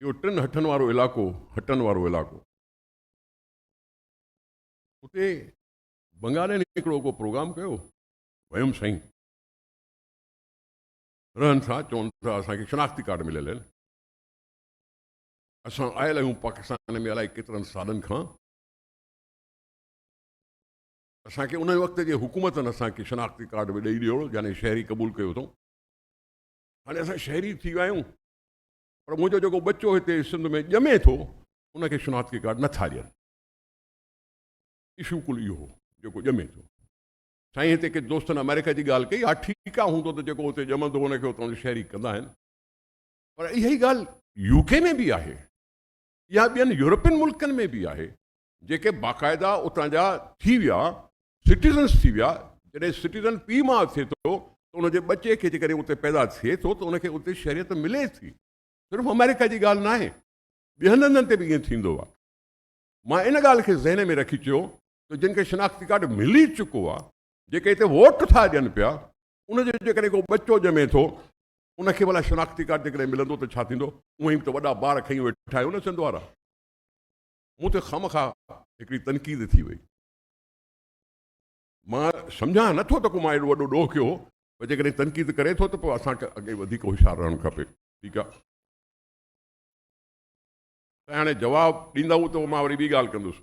اهو ٽن هٽن وارو علائقو هٽن وارو علائقو اتي بنگالين هڪڙو ڪو پروگرام ڪيو ويم سائين رهن ٿا چون ٿا اسان کي شناختي ڪارڊ مليل آهن اسان آيل آهيون پاڪستان ۾ الائي ڪيترن سالن کان اسانکي ان وقت جي حڪومتن اسانکي شناختي ڪارڊ به ڏئي ڏيو يعني شهري قبول ڪيو اٿو هاڻي اسان شهري ٿي ويا آهيون پر منهنجو جيڪو ٻچو هتي سنڌ ۾ ڄمي ٿو ان کي شناختي ڪارڊ نٿا ڏين اشو ڪل اهو هو جيڪو ڄمي ٿو سائين هتي ڪي دوستن آمريڪا جي ڳالهه ڪئي ها ٺيڪ آهي هوندو ته جيڪو هتي ڄمندو ان کي هتان جو شهري ڪندا آهن پر اها ئي ڳالهه يو ڪي ۾ به آهي يا ٻين يورپين ملڪن ۾ به آهي جيڪي باقاعده اتان جا ٿي ويا سٽيزنس ٿي ويا جڏهن سٽيزن پيء ماء ٿئي ٿو ته ان جي ٻچي کي جيڪڏهن اتي پيدا ٿئي ٿو ته ان کي اتي شهريت ملي ٿي صرف آمريڪا جي ڳالهه ناهي ٻين هنڌن تي به ائين ٿيندو آهي مان ان ڳالهه کي ذهن ۾ رکي چيو ته جن کي شناختي ڪارڊ ملي چڪو آهي جيڪي هتي ووٽ ٿا ڏين پيا ان جو جيڪڏهن ڪو ٻچو ڄمي ٿو ان کي ڀلا شناختي ڪارڊ جيڪڏهن ملندو ته ڇا ٿيندو اوهين به ته وڏا بار کڻي ويٺا آهيو نه سنڌ وارا مون تي خامخواه هڪڙي تنقيد ٿي وئي. مان سمجهان نه ٿو ته ڪو مان ايڏو وڏو ڏوهه ڪيو هو پر جيڪڏهن تنقيد ڪري ٿو ته پوء اسان کي اڳئين وڌيڪ هوشيار رهڻ کپي. ٺيڪ آهي. سائين هاڻي جواب ڏيندؤ ته مان وري ٻي ڳالهه ڪندس.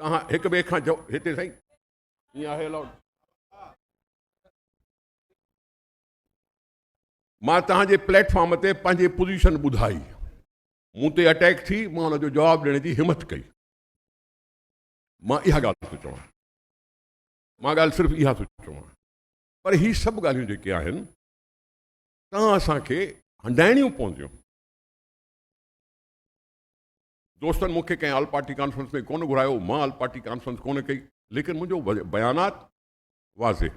توهان هڪ ٻئي کان جو هتي سائين ائين آهي الاؤڊ. مان توهان جي پليٽ فارم تي پنهنجي پوزيشن ٻڌائي. مون تي اٽيڪ ٿي مان ان جو جواب ڏيڻ جي همٿ ڪئي مان اها ڳالهه ٿو چوان مان ڳالهه صرف اها ٿو چوان پر هي سڀ ڳالهيون جيڪي آهن تان اسان کي هنڊائڻيون پونديون دوستن مون کي ڪنهن آل پارٽي ڪانفرنس ۾ ڪونه گهرايو مان آل پارٽي ڪانفرنس ڪونه ڪئي ليڪن منهنجو بيانات واضح